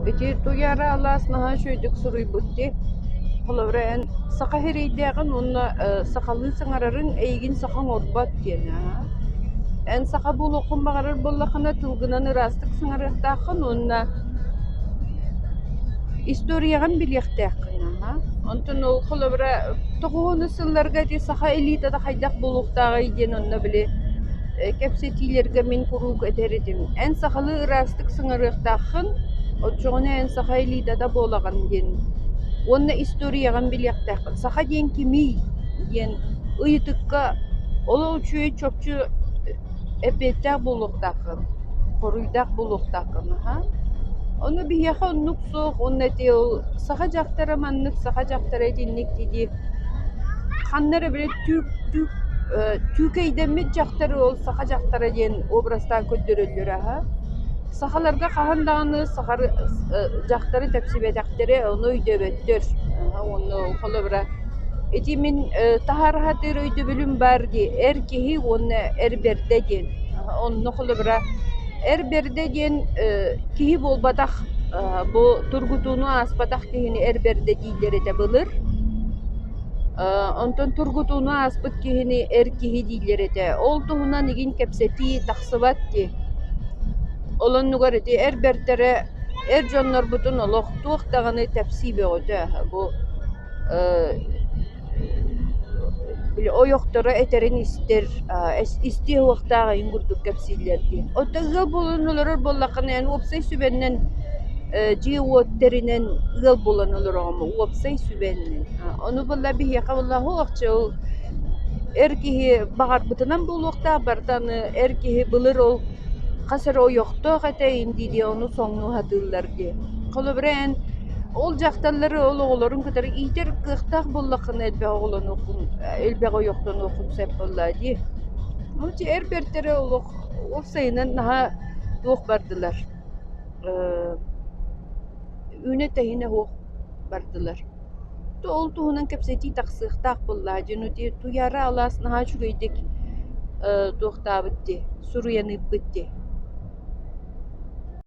Ити туйаара алаас наһаа үчүгэйдик суруйбут дии. Холобура эн саха иһирийдээҕин уонна э сахалыы саҥарарын эйигин саха оҥорбот диэн аа. Эн саха буолуоххун баҕарар буоллаххына тылгынан ыраастык саҥарыахтааххын уонна историяҕын билиэхтээххин аа. Онтон ол холобура тоҕуонус сылларга ити саха элитата хайдах буолуохтааҕый диэн онно били Кэпсэтиилэргэ мин куруук этэр этим: «Эн сахалыы ыраастык сыҥарыахтааххын, оччоҕуна эн саха элитата буолаҕын» диэн уонна историяҕын билиэхтээххин. Саха диэн кимий? диэн ыйытыкка олох үчүгэй чопчу эппиэттээх буолуохтааххын, хоруйдаах буолуохтааххын аһаа. Ону биһиэхэ оннук суох уонна ити ол саха дьахтара маннык, саха дьахтара итинник дии-дии ханна эрэ били Түүкэйдэммит дьахтар уол саха дьахтара диэн образтаан көрдөрөллөр аһа. Сахаларга хаһан даҕаны саха дьахтары тэпсибэтэхтэрэ, ону өйдөөбөттөр. Уонна холобура ити мин таһаарыһатыыр өйдөбүлүм баар дии, эр киһи уонна эр бэрдэ диэн. Онно холобура эр бэрдэ диэн киһи буолбатах бу тургутууну ааспатах киһини эр бэрдэ дииллэр этэ былыр. Онтон тургутууну ааспыт киһини эр киһи дииллэр этэ. Ол туһунан игин кэпсэтии тахсыбат дии. Ол оннугар ити эр бэртэрэ эр дьоннорбутун олох туох даҕаны тэпсии бөҕөтө аһа. Бу ойохторо этэрин истэр, истиэ суохтаах иһин курдук кэпсииллэр дии. Оттон ыал буолан олорор буоллаххына эн уопсай сүбэннэн дьиэ-уот тэринэн ыал булан олороҕун уопсай сүбэннэн. Ону булла биһиэхэ улаһуохчу, эр киһи баҕарбытынан буолуохтаах барыта аны эр киһи былыр ол хас эрэ ойохтоох этэйин дии дии ону соҥнуу сатыыллар дии. Холобура эн ол дьахталлары ол оҕолорун кытары иитэр кыахтаах буоллаххына элбэх оҕолонуоххун, элбэх ойохтонуоххун сөп буоллаа дии. Moo дьэ эр бэртэрэ олох уопсайынан наһаа туох бардылар. Үүнэ-тэһинэ суох бардылар «Ту ол туһунан кэпсэтии тахсыахтаах буоллаа, дьону дии, Туйаара алаас наһаа үчүгэйдик э, туохтаабыт дии, суруйан ыыппыт дии»